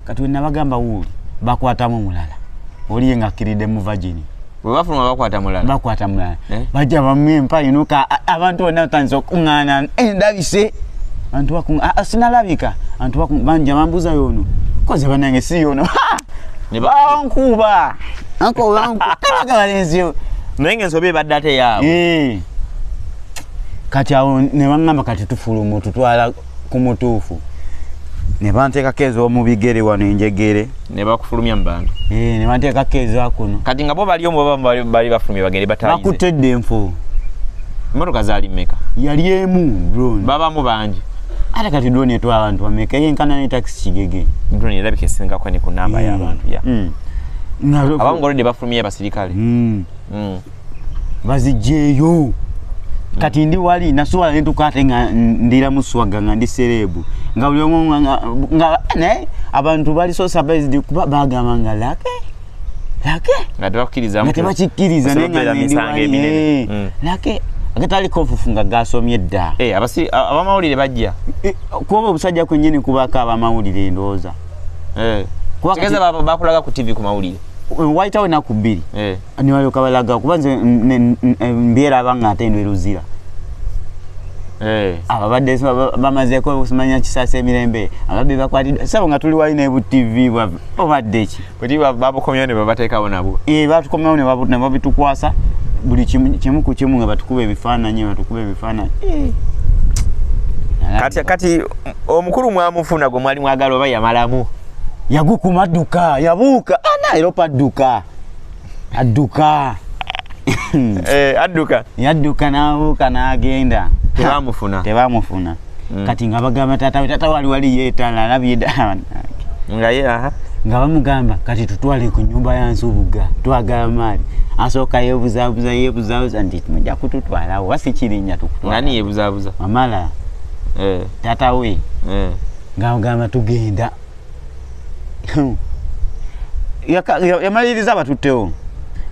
kati we nabagamba wuuli bakwatamu mulala oliye nga akkiride mu vagini webafuluma bakwata mulala bakwata mulala eh? bajja bamu empayinuka abantu bonna batandise okukuŋŋaana endabise eh, bantu bakuŋŋaana sinalabika bantu bakuŋŋaana banja bambuza yoono koze banange si yoono bankuba ankobankuaga balenzi naye nga ensobi ebadde ate yaabwe eh. kati awo ne baŋŋamba kati tufulumu tutwala ku mutuufu ne banteekako ez'omubigere wano enjegere ne bakufulumya mu bantu eh, ne banteekako eza kuno kati nga bo bali omu bali bafulumye bagende batayize bakutte dde enfu emmotoka zaali mmeka yali emu drone babamu bangi ate kati drone etwa abantu bameka yenkana ne takisi kigege drone erabika esingako ne ku namba hmm. y'abantu ya hmm. abamu ngolodde bafulumye abasirikale hmm. bazijeeyo kati ndi wali nasuwala nentuka ate nga ndira muswaga nga ndi serebu nga buli omu nga ne abantu bali so surprised kuba bagamba nga lake lake nga tebakkiriza nga tebakikkiriza naye nga ndi wali eh. mm. lake agatali kofufu nga gasomye dda eh, abasi abamawulire bajja eh, kuba obusajja kwenyini kubako abamawulire endowooza kigeza bakulaga ku tv ku mawulire wayitawo enaku bbiri nibalyoka balaga kuba nze mbyeraba nga ate ndweruzira eh. ababadde bamazeko osimanya kisasa emirembe ababbi bakwatidde sabo nga tuli wali nebu tv obadde ki oti babukomyawo ne babateekawo nabwo e batukomyawo ne babitukwasa buli kimu ku kimu nga batukuba ebifaananyi batukuba ebifaananyi eh. kati kati omukulu mwamufuna gwe mwali mwagala oba yamalamu yagukuma dduka yabuuka anaeropa ah, dduka adduka eh, adduka yadduka n'abuuka n'agenda tebamufuna tebamufuna mm. kati nga bagamba taata we taata wali wali yeetala alabye daa nga ye aha nga bamugamba kati tutwale ku nyumba ya nsubuga twagala maali asooka yebuzabuza yebuzabuza nti muja kututwalawo oba sikirinya tukutwani yebuzabuza mamala eh. tata we eh. nga mugamba tugenda yamaliriza abatuttewo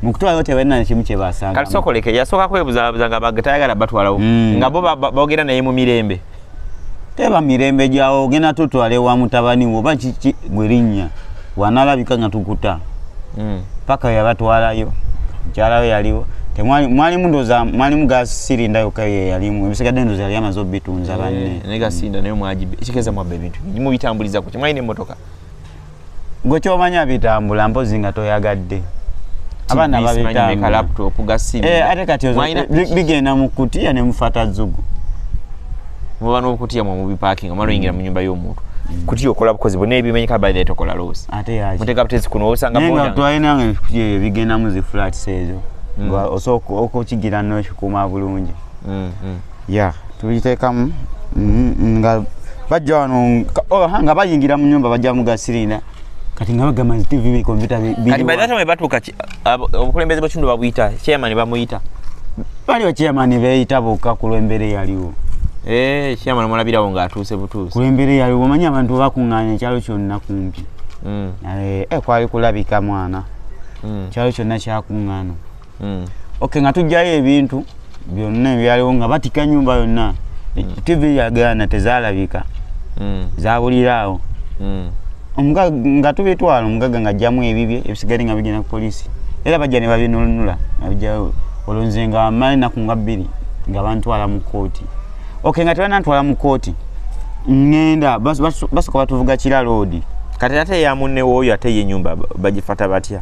mukutwalayo tebalina nekimu kyebasanga kati sokoleke yasooka kwebuzabuza nga tayagala batwalawo mm. nga bo bogera naye mu mirembe teba mirembe gyawo ogenda tutwale wa mutabani wo oba kiki gwerinnya wanalabika nga tukuta mm. paka yabatwalayo mukyalawo yaliwo mwalimu ndoza mwalimu gasirinda yoka yeyalimu ebisigadde ndoza yali amaze obitunza banne eh, mubitambuliza ku kimwalina emmotoka gwe kyomanya bitambula mpozi nga toyagadde abaana babitambuatebigeenda eh, mu kutiya ne mufata zugu muba nokutiya mwamubipakinga omala oyingira mu nyumba y'omuntu kutya okola bukozi bwonna ebimenyeka badde tokola loosi muteka butezi kuno osangatwalinange ebigendamu zi flats ezo mm. osooka okukigira nokikuuma bulungi mm, mm. ya tubiteekamu mm, nga bajja wano oh, nga bayingira mu nyumba bajja mugasirinda kati nga bagamba nti tv bikompyuta kati by that time batuuka obukulembeze bwekitundu babuyita chairman bamuyita bali bachairman beyita bokka ku lwembeera eyaliwo eh, chairman omulabirawo ng'atuuse butuuse ku lwembeera eyaliwo omanyi abantu bakuŋŋaanya ekyalo kyonna kumpi mm. eh, eh, kwali kulabika mwana mm. ekyalo kyonna kyakuŋŋaana mm. ok nga tujjayo ebintu byonna ebyaliwo nga batika nyumba yonna mm. tv yagana tezalabika mm. zabuliraawo mm. omugaga nga tubitwala omugaga nga ajjamu ebibye ebisigale nga bigenda ku polisi era bajja ne babinunula abijjayo olwo nze nga mali naku nga bbiri nga bantwala mu kooti ok nga tebanantwala mu kooti ngenda basoka batuvuga kira loodi kati ate yamunnewo oyo ate ye nyumba bagifata batya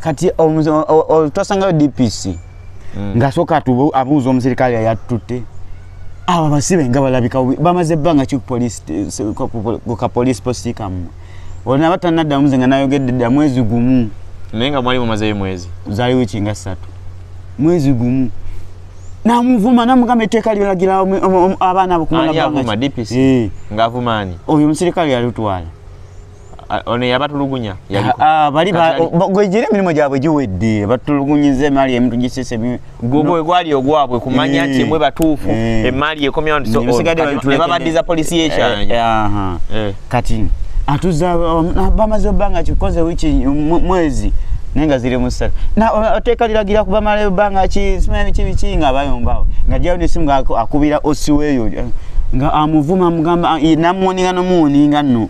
kati twasangayo dpc mm. ngasoka tu abuuza omusirikale yayatutte abo abasibe nga balabika bamaze ebbanga ki ka police posti kamu olina batanaddamu nze nga nayogedde dda mwezi gumu naye nga mwali mumazeyo mwezi zali wiki nga ssatu mwezi gumu namuvuma namugamba etteeka lyolagira abaana abo kumala eh. ngavuma ani oyo omusirikale yalitwala ono yabatulugunya ah, bali gwejira emirimu gyabwe giwedde batulugunyiza emaali emuntu gisese gwe gwali ogwabwe kumanya eh, nti mwe batuufu eh. emaali ekomyawo nebabaddiza polisi yekyanya eh, kati atuza um, bamaze obanga kikoze wiki mwezi naye nga ziri musatu oteeka liragira ku bamala ebanga ki simanyi biki biki nga abayombawo nga jawo nesimu nga akubira osiweeyo nga amuvuma mugamba namuwoninga nomuwoninga nno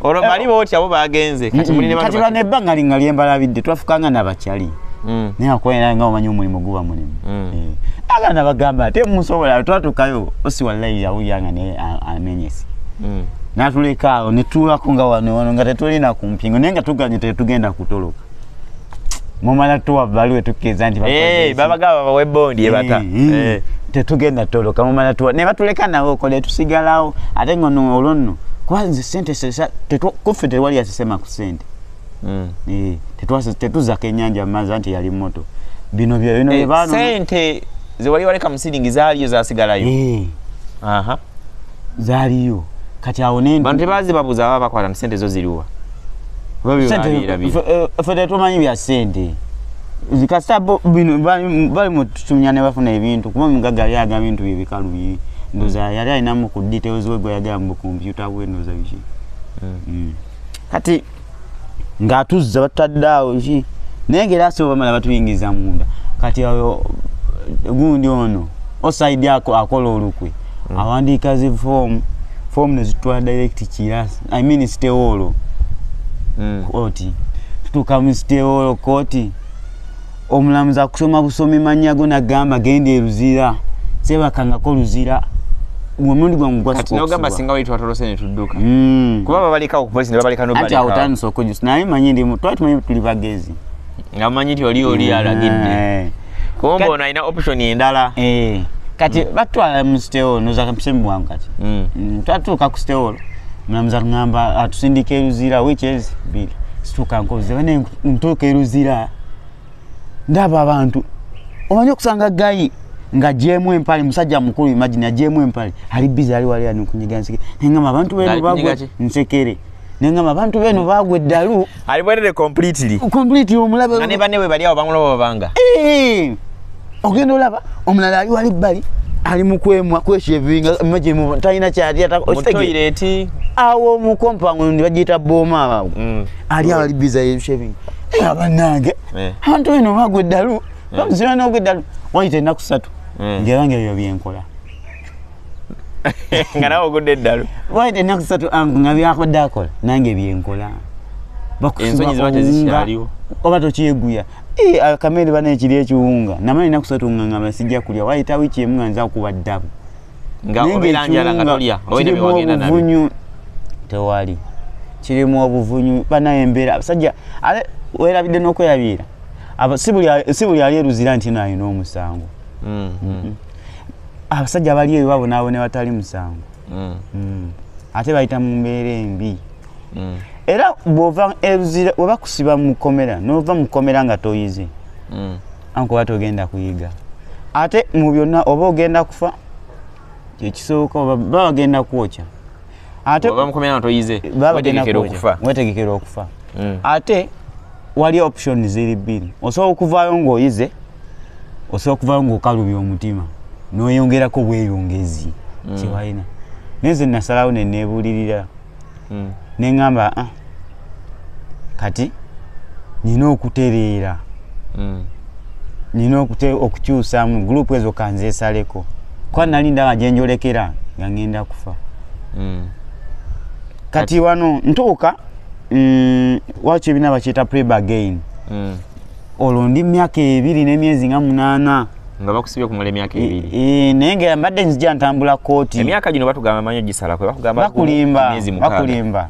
olwo eh, bali botya bo bagenze kati muli ne kati lwana ebbanga linga lyembalabidde twafukanga nabakyali mm. naye akwera nga omanyi omulimu guba mulimu mm. eh, aga nabagamba ate musobola twatukayo osi wallayi yawuyanga naye amenyesi mm. natulekaawo netuulako nga wano wano nga tetulina kumpingo naye nga tuganye tetugenda kutoloka mumala tuwa baluwe tukkiriza nti eh, babagaba bawe bondi ebata eh, eh. tetugenda toloka mumala tuwa ne batuleka nawe okole tusigalawo ate ngono olonno kuba nze sente kuffe tewali yasisema ku sente mm. tetuzako enyanja mazi anti yali moto bino byebino sente zewali waleka musiringi zaliyo zasigalayo zaliyo kati awo ne bantu bazi babuza baba bakwata sente zo ziriwa fe tetumanyi bya sente kasita bino bali mututumya ne bafuna ebintu kuba omugaga yali aga bintu bye bikalu bye ndoza yali alinamu ku details we gwe yagamba ku kompyuta we ndoza biki hmm. Hmm. kati ng'atuzza batutadde awo ki naye ngaera asobola bamala batuyingiza munda kati oyo gundi ono osaidi ako akola olukwe mm. awandiika zi foomu foomu nezitwala direct kira i mean sitewoolo mm. koti tutuuka mu sitewoolo koti omulamuzi akusoma busomi mannya go nagamba genda eruzira sebakangako luzira omundi gwangu gwasinogamba singa wali twatolose ne tudduka hmm. kuba babaleka okupolisi ne babaleka noanti awo tandisa okujusa naye manyi ndimu twali tumanyi tuli bagezi nga manyi ti oli oli hmm. alagidde eh. kumba ono alina option endala eh. kati hmm. batwala mu sitewolo nozakampisemu bwangu kati twatuuka ku sitewolo mulamuzi atugamba atusindika eruzira wekyezi biri situuka nkoze bane ntuuka eruzira ndaba abantu omanyi okusanga gayi nga jemu empali musajja mukulu imagine ajemu empali ali biza ali wali anukunyiga nsike nengama abantu benu bagwe nsekere nengama abantu benu bagwe dalu ali bwere completely completely omulabe nane bane we bali abangulo babanga eh ogendo laba omulala ali wali bali ali mukwemwa kweshevinga imagine mu tayina chati ata okitegere awo mu compound ndi bajita boma awo mm. ali ali biza ye shaving eh abanange eh. antu eno bagwe dalu eh. bamuzira no gwe dalu wali tena kusatu eh. ngera ngera yo byenkola ngana ogudde dalu wali tena kusatu angu ngabi akoda akola nange byenkola bakusoma ngaliwo oba tokyeguya eh akamere bana ekiri ekiwunga namanyi nakusatu nganga basijja kulya wali tawichi emwe nza kuba dalu nga obeera njala nga tolya obeera byewagenda nabyo tewali kirimu obuvunyu banaye embeera abasajja ale werabidde n'okwerabiira si buli ali eruzira nti no alina omusango mm, mm. mm-hmm. abasajja bali eyo babonaabo ne batali musango mm. mm. ate bayita mu mbeera embi mm. era bwova eruzira webakusiba mukomera nova mukomera nga toyize mm. ankuba togenda kuyiga ate mu byonna oba ogenda kufa kyekisooka oba bagenda kwokya atewetegekera okufa mm. ate wali option ziri bbiri osobola okuvaayo ngaoyize osobola okuvaayo ngaokalubya omutima noyongerako bweyongezi mm. kyewalina naye ze nasalawo nenebuulirira mm. neŋamba ah, kati nina okutereera mm. nina okukyusamu group ezo kanzesaleko kuba nali ndaba gyenjolekera nga ŋenda kufa mm. kati wano ntuuka mm, wakyo ebina bakyeta preb again mm. olwo ndi myaka ebiri nemyezi nga munana nga bakusibye kumala emyaka e, ebiri e, naye nga mbadde nzija ntambula kooti emyaka gino batugamba manyo gisalako bakulimba bakulimba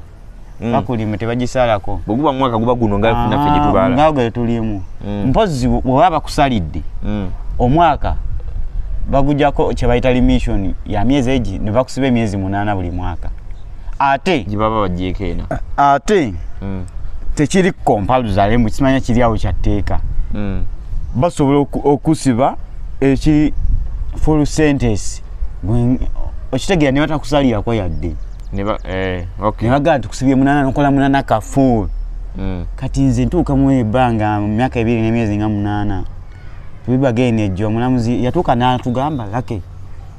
mm. bakulimba tebagisalako bweguba mwaka guba guno nga ah, naffe gyetubala nga gwe tulimu mm. mpozi bweba bakusalidde mm. omwaka bagujako kyebayita limisioni ya myezi egi nebakusiba emyezi munana buli mwaka ate gibaba bagyeko ena ate mm. tekiri kompaluzale mbu kimanya kiri awo kyatteeka mm. basobola okusiba eki full sentence okitegeera ne batakusalirako yadde ne eh, bagamba nti kusibye munana nokola munana kafuul mm. kati nze ntuuka mu ebbanga mu myaka ebiri n'emyezi nga munaana tubibageenejjo omulamuzi yatuuka n'atugamba lake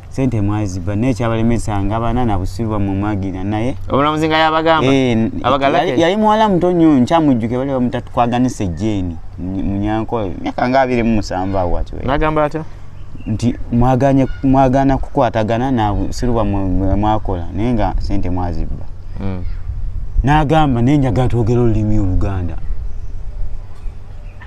sente mwaziba naye kyabalemesa nga bana nabusiru bamumwagira naye omulamuzi nga yabagamba eh, abagalake yali muwala muto nnyo nkyamujjuke bali bamutatwaganisa ejjeeni munyankola myaka nga abiri mumusanvu awo ati nagamba atya nti mwaganye mwagana kukwatagana nabusiru bamwakola naye nga sente mwaziba hmm. nagamba naye njagala twogera olulimi oluganda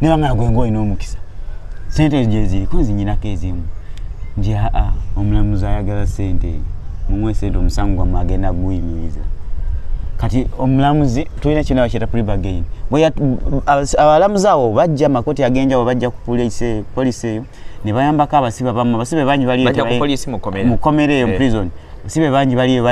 naye wangala gwe ng'olina omukisa sente ezo gye ziriko nzinyinako ezimu nti aa omulamuzi ayagala sente eyo mumuwe sente omusango gwamu agenda guyimiriza kati omulamuzi tulina kinawa kyeta pribagain abalamuzi awo bajja makoti agenjawo bajja ku polisi eyo ne bayambako abasibe bamu abasibe bangi balimukomera eyo eh. prison abasibe bangi baliyo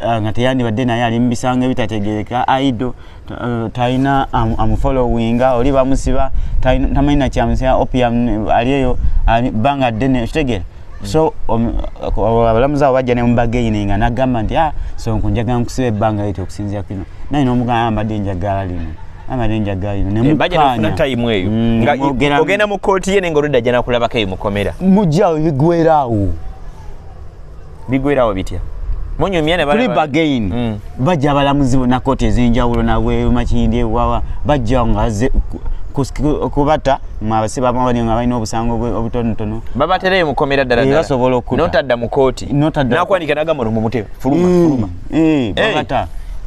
ah, nga teyandibadde naye ali mubisango ebitategereka aido Eh, talina amufollowinga oli bamusiba tamanyi nakyamusia opium ali eyo banga ddene okitegere so um, abalamuzi abo bajja nemubageininga nagamba nti ah, so nkunjagala nkusiba ebbanga liti okusinzira kino naye nomugamba mbadde enjagala lino abadde njagala lino eh, nemukanyatayimu eyo mm, ogenda mu kooti ye nenga oludda janakulabako eyo mukomera mujja ebigwera awo bigwerawo bitya munyumye ne bali bagain mm. bajja balamuzi bona koti ezenjawulo na we makindi wawa bajja ngaze kubata mwabase bamawani nga balina obusango obutonotono babatereyo mukomera ddala ddala basobola okkuta notadda mu kooti nakwanika nagamba no mu mutebe fuluma mm. fuluma eh, eh.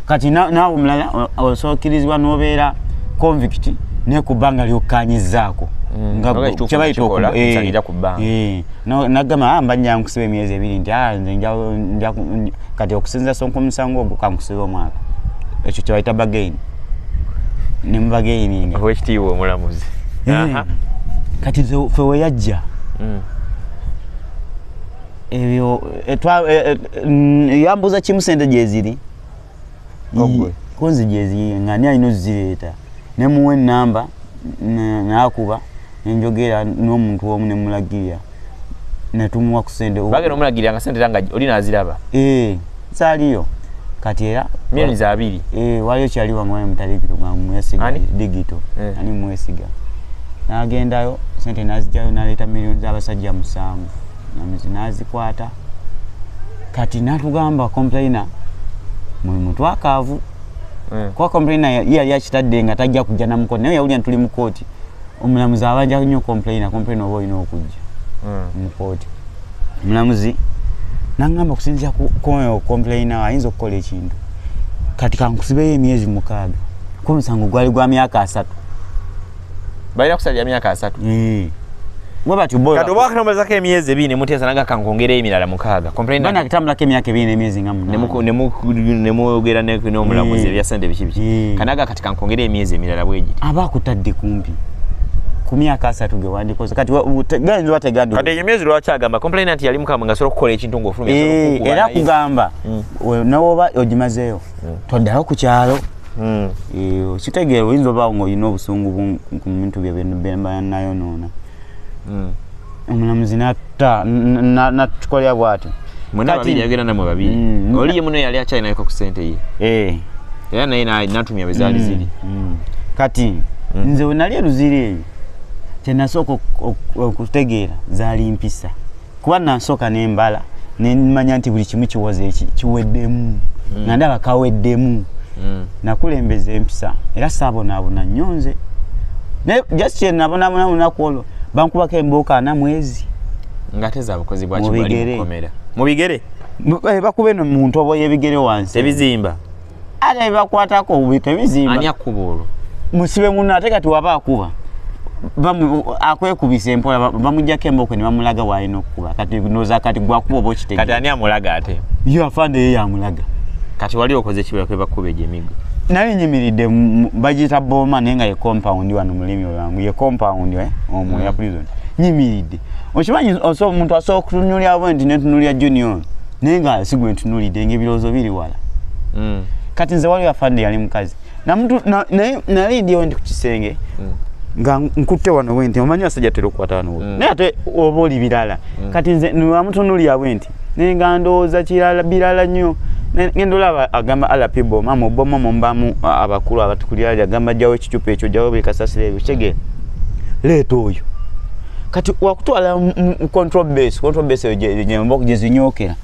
kati naawe omulala osookirizibwa n'obeera convict naye ku bbanga lyokkanyizaako mm. nagamba eh, ah, mba njankusiba emyezi ebiri nti ah, kati okusinza sonka omusango ogwo kankusiba omwaka ekyo kyebayita bagaini nemubagaininga owekitiibwa omulamuzi kati fe weyajja mm. ebyo eh, twa- eh, eh, mm, yambuuza kimu sente gyeziri Ogwe. kunzi gyeziri nga ani alina ozireeta nemuwa enamba n- nakuba nenjogera n'omuntu omu nemulagirira netumuwa ku sente bagenda omulagirira nga sente era nga oli naziraba Eh, zaaliyo kati era millions abiri Eh, waliyo kyali wamwali mutalikitu nga mwesiga Ani? digito Eh. ani mwesiga nagendayo sente nazijayo naleeta millioni z'abasajja musanvu namuzi nazikwata kati natugamba complaina muli mutwakaavu eh. kuba complaina yali akitadde nga tajja kujja namukooti naye yawulira ntuli mu kooti omulamuzi abanja nyo complaina complaina oba olina okujja eh. mu kooti omulamuzi nangamba okusinzira kuoyo okomplaina ayinza okukola ekintu kati kankusibeyo emyezi mukaaga kuba omusango gwali gwa myaka asatu balina kusalira myaka asatu kati oba wakamazako emyezi ebiri nemuteesa naga kankwongera emirala mukaaga atambulako emyaka ebiri nemyezi nga munemwogera nomulamuzi ebyasente biki biki kanaga kati kankwongera emyezi emirala bwegiri aba akutadde kumpi ku myaka asatu ge wandikoze kati gayinza wategadde kati eyo myezi lwaki agamba complainant yali mukama nga asobola okukola ekintu ngaofulumya era kugamba nawoba ogimazeeyo toddayo ku kyalo hmm. eh, okitegeera oyinza obaawo ngaolina obusungu ku bintu bye bemba nayonoona hmm. omulamuzi natta natukolera bwati mwenababiriagenda namwe babiri hmm. oliye muno yali akyalinaeko ku sente ye eh. era naye natumya bwezaali ziri kati nze wenali eruziiri eyo kyenasooka okutegeera zaali mpisa kuba nansooka ne mbala ne mmanya nti buli kimu kiwoze eki kiweddemu mm. nga ndaba kaweddemu mm. nakulembeza empisa era saabonaabona nnyo nze naye just kye nabonaabona mu lunaku olwo bankubako embuuka ana mwezi ng'ate za bukozi bwakimubigere mu bigere eh, bakuba eno mu ntobo y'ebigere wansi ebizimba ate bebakwatako obubi tebizimbaani akuba olwo musibe muno ate kati waba akuba akwekubisa empola bamujjako emboko nebamulaga walina okukuba kati noza kati gwakuba oba okitegkati ani amulaga ate yo afande ye yamulaga kati wali okoze kibakuba egyo emigo nali nyimiridde bagiyita boma naye nga ye compound wano mulimi lwangu ye compound eh, omu ya mm. prison nyimiridde okimanyi omuntu asobola okutunulya bwe nti netunulya junior naye nga sigwe ntunulidde ngaebirowoozo biri wala mm. kati nze waliwo afande yali mukazi naye ndyewo ndi ku kisenge mm. nga nkutte wano wenti omanyi basajja tera okukwata wano mm. naye ate oba oli birala mm. kati nze wamutunulira bwenti naye nga ndowooza kirala birala nnyo ngenda olaba agamba alap boma muboma mumbamu abakulu abatukulira agamba jjawo ekicupa ekyo jjawo buli kasasiro ebyo kitegeera leeta oyo kati wakutwala mu control base control base gyembok gyezinyokera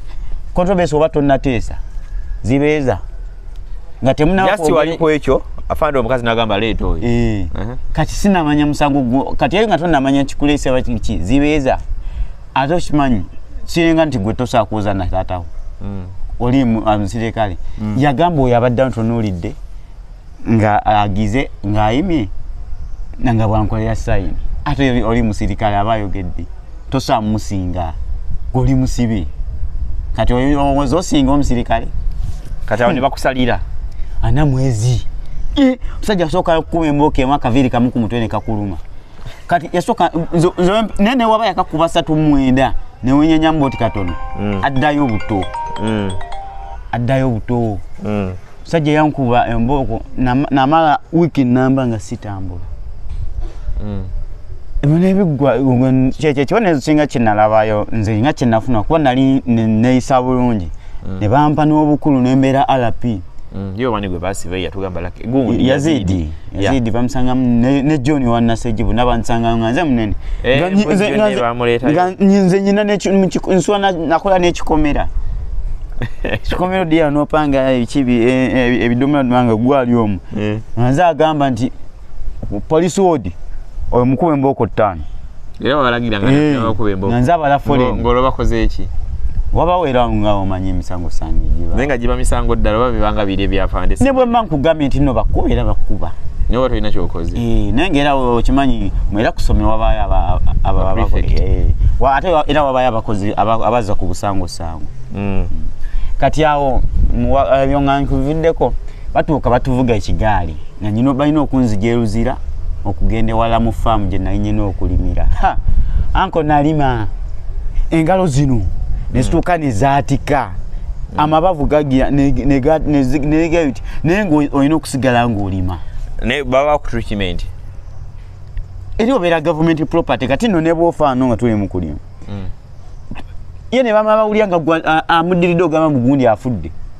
control base oba tonateesa zibeeza nga temunajasti waliku ekyo afande omukazi nagamba leeta oyo eh. kati sinamanya musango gwo kati eyo nga tonamanya kikuleesa bakiki zibeeza ate okimanyi kiringa nti gwe tosakuuza nataatawo hmm. oli musirikale hmm. yagamba oyo abadde ntunuulidde nga agize ng'ayimye nanga bwankolera sayini ate oli musirikale aba ayogedde tosaa musinga goli musibi kati olowooza osinga omusirikale kati awo ne bakusalira ana mwezi e, omusajja asooka kukuba embooka emu akaviiri kamu ku mutwe ne kakuluma kati yasooka naye newaba yakakuba satu mwenda newenyanyamu boti katono mm. addayo obuto mm. addayo obuto mm. musajja yankuba embooko namala wiiki namba nga sitambula mm. ebinebiggwa kyekyekiba nesinga kyenalabayo nze nga kyenafuna kuba nali neyisa bulungi mm. ne bampa n'obukulu nembeera rp mm, yazidi yazidi bamusangamu ne john wanasejibu nabansanga nga nze munene eh, nze nyina nsula nakola nekikomera kikomero dia nopanga ekibi e, e, ebidomola nanga gwali omu eh. nze agamba nti police wodi oyo mukube mboko ttaano era wabalagira nga eh, nabakuba embogo nze abala foreign ngolo bakoze eki wabawera nga omanyi emisango sange giba naye nga giba misango ddala oba bibanga biri ebyafande ne bwe mba nkugambye nti no bakuba era bakuba naye oba tolina kyokoze eh, naye nga era okimanyi mwera kusomero wabayo ababakole eh, ate era wabayo abakozi abazza ku busango sango mm. kati awo byoŋankuviddeko batuuka batuvuga ekigaali nanyina balina okunzija eruzira okugenda ewala mu faamu gye nali nyina okulimira anko nalima engalo zino nezituuka hmm. nezaatika hmm. amabavu gagira negabiti naye nga olina okusigala ngaolima naye baba bakutreatment eri obeera gavumenti property kati no nebwofaano nga tuli mukulimu hmm. ye nebamabawulya nga amudiridde ogamba mugundi afudde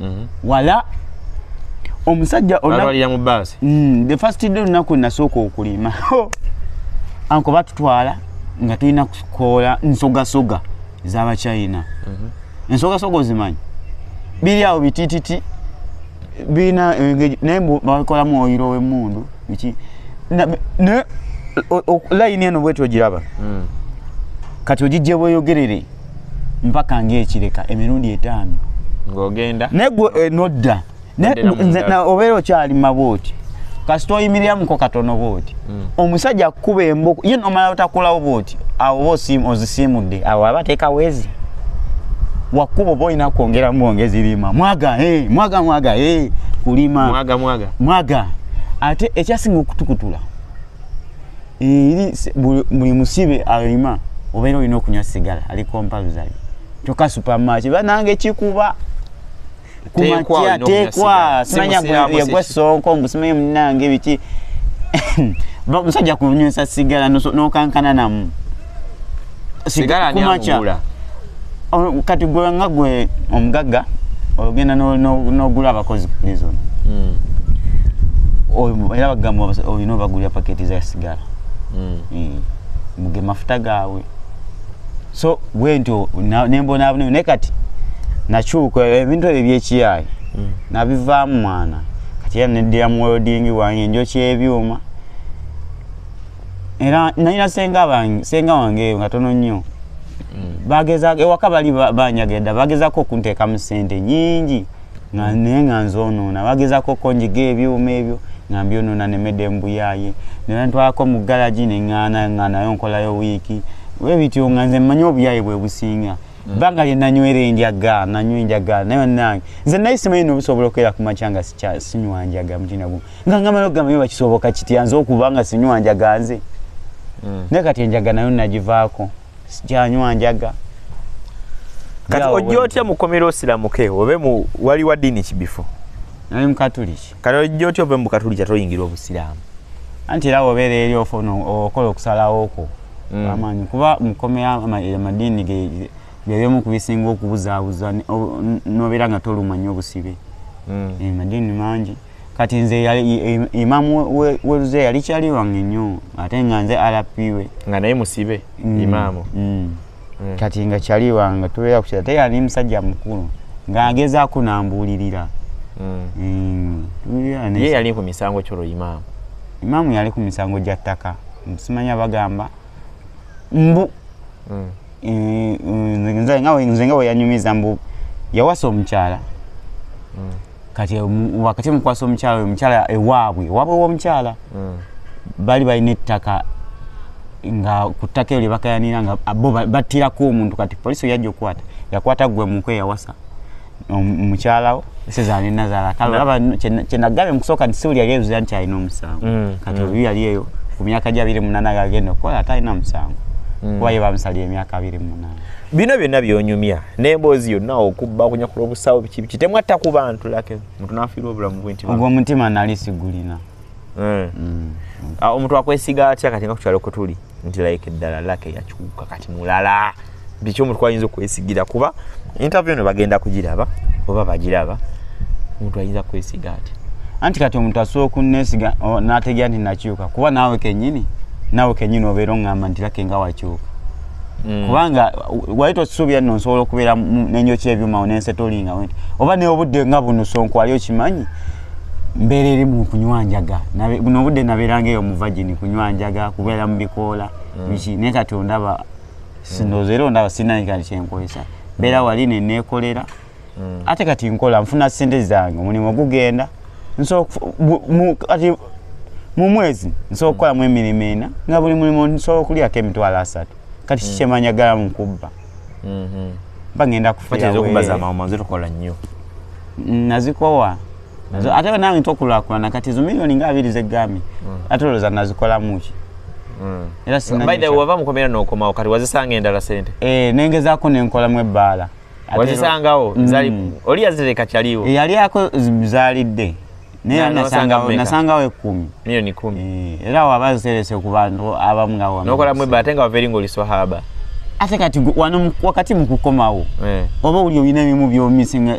mhm. wala omusajja alwalira mu baasi mm, the first day olunaku nasooka okulima anko batutwala nga tulina kukoola nsogasoga ezabachina mhm. ensogasoga ozimanyi biri awo bitititi birina naye bakolamu oyiro wemundu biki naye layini eno bwetyo ogiraba mm. kati ogijja bweyogerere mpaka ng'ekireka emirundi etaano ng'ogenda naye gwe eh, nodda obeera okyali mabooti kasita oyimiriamuko katono bwoti mm. omusajja akukuba emboko ye nomala otakulawo bwoti awo oba ozisiimudde awo aba ateeka wezi wakuba oba olina kwongera mwongezi lima mwaga eh, mwaga mwaga eh, kulima mwaga ate ekyasinga okutukutula eri buli musibe alima obeera olina okunywa sigala ali kompalusali kyoka supamaki banange kikuba kumakya tekwa simanya yagwa sonko mbusimaye munange biki musajja kunywesa sigala nokankana namu sigala nyamugula oh, kati gwe nga gwe omugagga ogenda n'ogula abakozi ku prison hmm. era bagamba olina obagulira paketi za sigala hmm. hmm. muge mafuta gaabwe so bwentyo nembonaabuneo naye kati nakyuka ebintu ebyo byekiyaayi nabivaamu mwana kati era neddira mu welding wange njokyebyuma era nalina senga bange senga wange nga tono nnyo mm. bageza ewaka bali banyagenda bagezako okunteekamu sente nyingi nga mm. naye nga nzonoona bagezako konjiga ebyuma ebyo nga mbyonoona nemede embuyaye nentwalako mu galagi neŋana nga nayo nkolayo wiiki webityo nga nze mmanyi obuyaye bwe businga banga lye nanywera enjaga nanywa enjaga naye banange nze naye simanyi nobusobola okubeera ku makya nga sinywa njaga mutina gumu nga ngamala okugamba yo bakisoboka kitya nze okuba nga sinywa njaga nze hmm. naye kati enjaga nayo nagivaako sikyanywa njaga kati ojja otya mukomera osiramuke obe mu wali wa ddiini kibifo nali mukatuliki kati ojja otya ove mu bukatulija toyingira obusiraamu anti era wobeera eri ofuna okola okusalawo kwo mm. amaanyi kuba mukomera amadiini byebimu ku bisinga okubuzaabuza nobeera nga toluma nyo obusibe mm. eh, madiini mangi kati nze imamu weruze yali kyali wange nyo ate nga nze rp we nga naye musibe mm. imamu mm. kati nga kyali wange tubeera kukira te yani musajja mukulu nga agezaako nambuulirira mm. mm. ye yali ku misango kyolo imaamu imaamu yali ku misango gya ttaka simanya bagamba mbu mm. eh, eh, nze nga weyanyumiza mbu yawasa omukyala mm. kati wakati mukwasa omukyala oyo omukyala ewaabwe ewaabwe womukyala mm. bali balina ettaka nga ku ttaka eyo lyebakayanira nga bo battirako omuntu kati polisi oyajja okukwata yakwata gwe muko eyawasa mukyalawo sezaali nazaala kale olaba kyenagambye mukusooka nti siwuli yali ezuza nti alina omusango mm, kati mm. oyo yali eyo ku myaka gya biri munana agagenda okukola ate alina omusango kuba ye bamusalira emyaka abiri munana bino byonna byonyumya naye emboozi yonna okubba okunyakula obusawo biki biki temwatta ku bantu lake omuntu nafiira obulamu bwe nti ogwo omutima nali sigulina eh. mm. ah, omuntu akwesiga atya kati nga ku kyalo kwe tuli nti like ddala lake yakyuka kati mulala biki omuntu kwayinza okwesigira kuba interview eno bagenda kugiraba oba bagiraba omuntu ayinza kwesiga atya anti kati omuntu asobola okunesiga nategera nti nakyuka kuba naawe kenyini naawe kenyini obeera oŋŋamba nti lake nga wakyuka Mm. kubanga wali tosuubira nno nsobola okubeera nenyoki ebyuma nensetolinga wenti oba neobudde nga buno sonko wali okimanyi mbeera eri mu kunywa njaga buno obudde nabeeranga eyo muvagini kunywa njaga kubeera mu bikoola mm. biki naye kati ondaba sindooza era ondaba sinaika kyenkozesa mbeera wali neneekolera mm. ate kati nkola nfuna sente zange omulimu gugenda kati mu mwezi nsobola okukolamu emirimu ena nga buli mulimu nsobola okulyako emitwalo asatu kati mm. kikyemanya gala mu kubba mm-hmm. bagenda kufiiraweetukola nnyo nazikowa mm. ate nange tokulakulana kati zo miliyoni nga abiri zeggambye mm. ate olowooza nazikolamuki era sinawava mukomera nokomawo kati wazisanga endala sente eh, nengezaako nenkolamu ebbaala wazisangawo mm. zali oli yazireka kyaliwo yali ako zalidde naye nasangawo nasangawo ekumi milioni kumi eh, era waba ziterese ku bantu abamu nga wama nokola mwebba ate nga wava eri ngaoli swahaba ate kati wano wakati mu kukomawo eh. oba oli olina ebimu byomisinga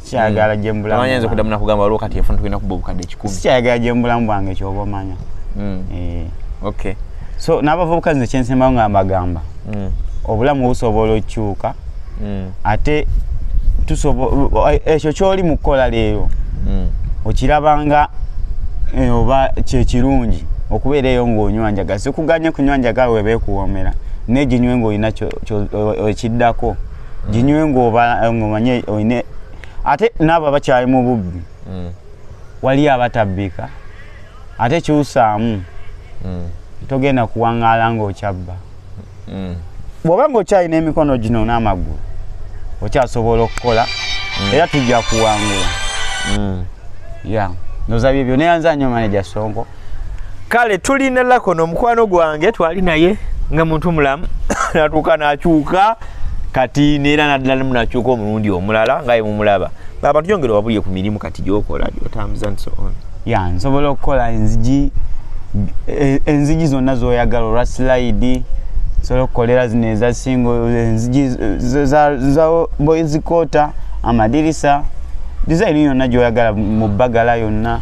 kyagala mm. jembula amanya nze kudamu nakugamba waliwo kati efuna tulina kuba obukadde kikumi sikyagala jembulamu bwange kyoba omanya mm. eh. okay so n'abavubuka nze kyensembayo nga mbagamba mm. obulamu busobola okukyuka ate ekyo kyoli mu kukola leero okirabanga eh, oba kyekirungi okubeera eyo ng'onywa njaga sikuganye kunywa njaga webeekuwoomera neginywe ng'olina ekiddako ginywe ng'omanye eh, oyine ate naabo abakyali mu bubbi mm. waliyo abatabbika ate kyusaamu mm. togenda kuwaŋŋaala ng'okyabba mm. bw'oba ng'okyalina emikono gino n'amaggulu okyasobola okukola era tujja kuwangula ya nozabye byo neyanza nyo maneja songo kale tulina lakono omukwano gwange twali naye nga muntu mulamu natuuka nakyuka kati neera naddala munakyuka omulundi omulala nga yemumulaba abantu yongere wabulye ku mirimu kati gyokola gyotambuza nti soon ya nsobola okukola enzigi e, enzigi zonna zoyagala olwa silayidi nsobola okukolera zino ezasingo enzigi za boyzikota amadirisa dizayini yonna gyoyagala mu bbagala yonna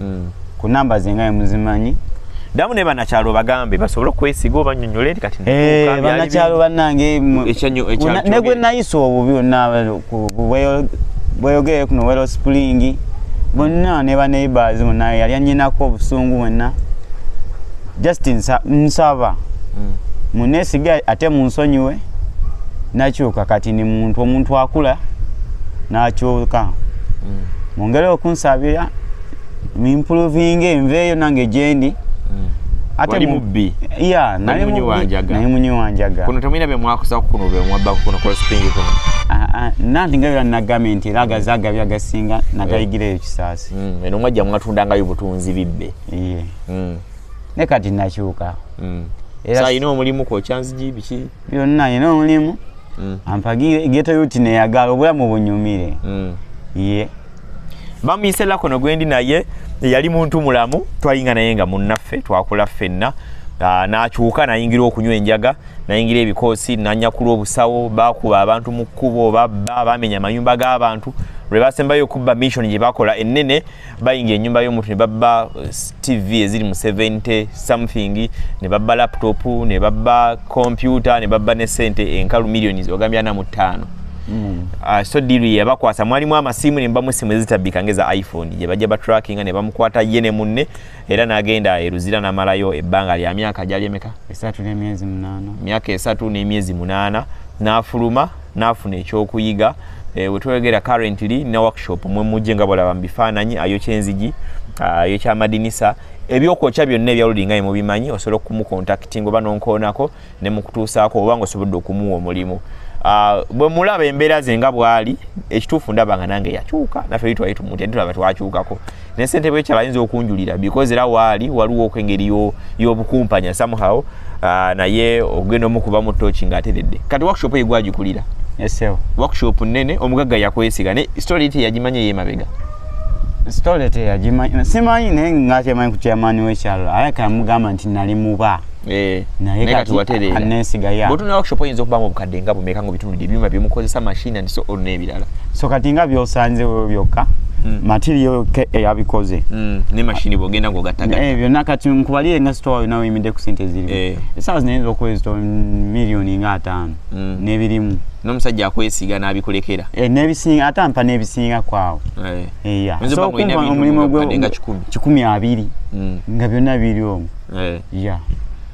mm. ku namba zenga emuzimanyi damu ne banakyalo obagambe basobole okwesiga obanyonyole nti kati eh, banakyalo banange negwe nayisa obubi onna bweyogere kuno wero spulingi bonna ne baneighbors bonna yali anyinako obusungu bwonna just nsaba mm. munesiga ate munsonyiwe nakyuka kati ni muntu omuntu akula nakyuka mm. mungere okunsabira mimpulovinga enveeyo nange gyendi hmm. wali mubbi ya nali munyi wanjaga nali munyi wanjaga kuno tamina be mwakusa kuno be mwabba kuno kwa spring kuno a ah, a ah, nanti ngayo na gament laga zaga bya gasinga na gaigire eh. ekisasi mm eno mwajja mwatunda ngayo butunzi bibbe iye mm ne kati nachuka mm era sa ino mulimu ko chance ji bichi byonna alina omulimu mm. ampagire geto yuti neyagala obulamu bunyumire mm. ye bamuyise lakono gwendi naye yali muntu mulamu twalinga naye nga munnaffe twakula ffenna ah, nakyuka nayingira okunywa enjaga nayingira ebikoosi nanyakula obusawo bakuba abantu mu kkubo babba bamenya amayumba g'abantu lwe basembayo okubba mission gye bakola ennene bayingira enyumba yomuntu nebabba eh, tv eziri mu 70 something nebabba laptop nebabba kompyuta nebabba ne sente enkalu millioni ogambye ana mu ttaano mm. ah, so diru yebakwasa mwalimu amasimu nembamu esimu ezitabbika ngeza iphone gyebajja batrackinga nebamukwata ye ne munne era nagenda e luzira namalayo ebbanga lya myaka gyali emeka esatu n'emyezi munaana myaka esatu n'emyezi munaana n'afuluma n'afuna ekyokuyiga e, eh, wetwegera currently na workshop mwe mujje nga bolaba mu bifaananyi ayokya enzigi ah, ayokya amadinisa ebyokwokya byonna ebya loading nga mubimanyi osobola okumukontaktinga oba nonkoonako ne mukutuusaako oba nga osobodde okumuwa omulimu ah, bwe mulaba embeera ze nga bwali ekituufu ndaba nga nange yakyuka naffe li twali tumuti ati tulaba twakyukako ne ssente bwekyala ayinza okunjulira because era waali waliwo okwengeri y'obukumpanya somehow ah, naye ogenda omukuba mu toki ng'ateredde kati workshop egwagikulira workshop nene omugagga yakwesiga ne story ite yagimanya eyemabega sitole teyagimanyi simanyi naye ngakyemanyi ku chairman wekyalo aye kamugamba nti nali muba eh, naye kati watereera nesiga ya botuna workshop oyinza okubamu obukadde nga bumeka nga obitunudde ebyuma byemukozesa machine and so on n'ebirala so kati nga byosanze wewe byokka hmm. material eyabikoze hmm, ne mashini bwogenda ngaogattagatta eh, byonna kati nkubalire nga sitowa yona oyimidde ku sente zirimu eh. esaawa zinayinza okuwezito miliyoni nga ataano mm. nebirimu nomusajja akwesiga nabikulekera e, nebisinga ate ampa nebisinga kwawo omulimu kikumi abiri mm. nga byonna biri omu e. ya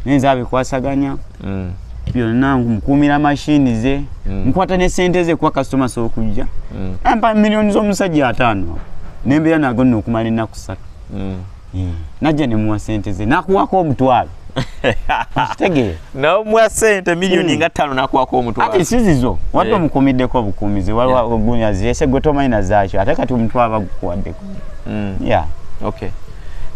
nenza abikwasaganya mm. byonna mukuumira mashini ze mm. nkwata ne sente ze kuwa kasitoma sokujja mm. ampa miliyoni z'omusajja ataano nembeera nago nno okumala ennaku ssatu mm. mm. najja ne muwa sente ze nakuwako omutwalo okitegeera namuwa sente miliyoni mm. nga ttaano nakuwako omutwalo ati sizizo wadde eh. omukumiddeko obukuumizi waliwo gunya zese gwe tomanyi na zaakyo ate kati omutwalo bagukuwaddeko mm. ya okay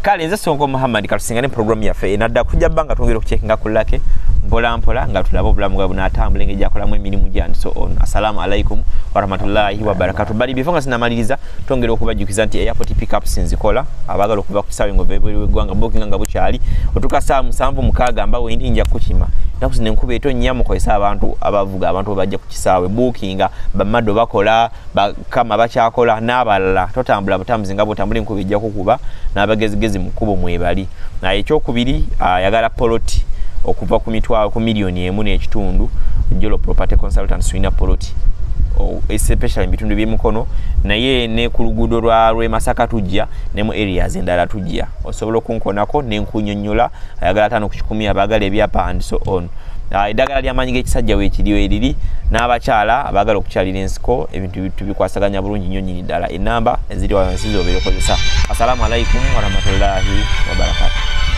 kale nze sonko muhammad katusingane programu yaffe enadda kujja banga twongera okucekinga ku lake mpola mpola nga tulabe obulamu bwabwe bunatambula engeri gyakolamu emirimu gyandi so on assalamu alaikum warahmatullahi wabarakatu bali bifo nga sinamaliriza tongera okubajjukiza nti airport pickups nzikola abaagala okuva ku kisaawe ngaovaebweru weggwanga bookinga nga bukyali otuuka saawa musanvu mukaaga mba wendi nja kukima naku zino enkuba eto nnya mukozesa abantu abavuga abantu bebajja ku kisaawe bookinga bamado bakola bakama bakyakola n'abalala totambula butambuzi nga bwotambula enkuba ejja kukuba n'abagezigezi mu kkubo mwebali nga ekyokubiri ayagala uh, poloti okuva ku mitwalo ku miliyoni emu n'ekitundu jolo property consultant swina poloti especially mubitundu byemukono naye ne ku luguudo lwa lwemasaka tujja ne mu areas endala tujja osobola okunkonako nenkunyonyola ayagala atano ku kikumi abaagala ebyapa and so on ah, eddagala lyamaanyi g'ekisajja weekiriyo eriri n'abakyala abaagala okukyalira ensiko ebintu tubikwasaganya bulungi nnyo nyini ddala enamba eziri wansi zobeera okozesa assalamu alaikum warahmatullahi wabarakatu